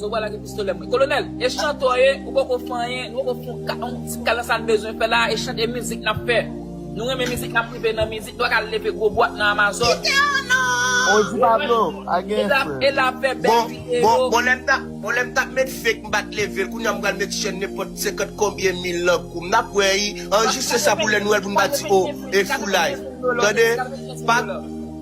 Zo bwa lage pistolè mwen. Kolonel, e chantè w ye, ou poko fè anyen, nou poko fè yon ti kal nan sa n bezwen fè la a, e chant e mizik n ap fè. Nou renmen mizik n ap rive nan mizik, nou pa ka al leve gwo bwat nan Amazon. Odi Pablo, pa gen frè. E la pè bèl video. Bon lè m ta, bon lè m ta met fake m pat leve l, kounya m pral met chèn nenpòt 50 konbyen mil nan kou m, n ap wè ii, anrejistre sa pou lè Nwèl pou n pa di oh, e foulay. Tande, pa.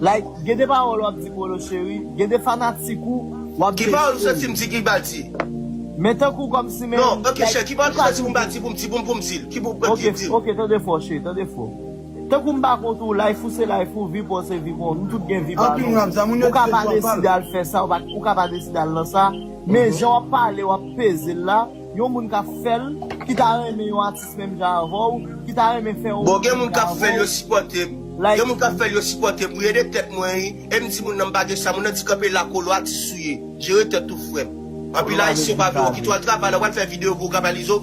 Like gen de pawol wap di polo cheri gen de fanatik ou wap dechire. Ki pawol ou santim di ki bal di. Men tankou kom si men Non ok chè ki pawol ou santi pou m bal di pou m di pou m pou m dil ki pou m pran dil. Ok tande fò cheri tande fò. Tankou m pa kont ou life ou se life ou vi paw se vi paw nou tout gen vi pa nou ou ka pa deside al fè sa ou ka pa deside al nan sa men jan wap pale wap peze l la yon moun kap fè l ki ta renmen yon atis Bon gen moun kap fèl yo sipòtem gen moun kap fèl yo sipòtem mwen ede tèt mwen wi em di moun nan mpa gen sa moun nan di kanpe la kolo atis ou ye jere tèt ou frèm anpil ayisyen pa vle wè okito al travay la wal fè video voga balizo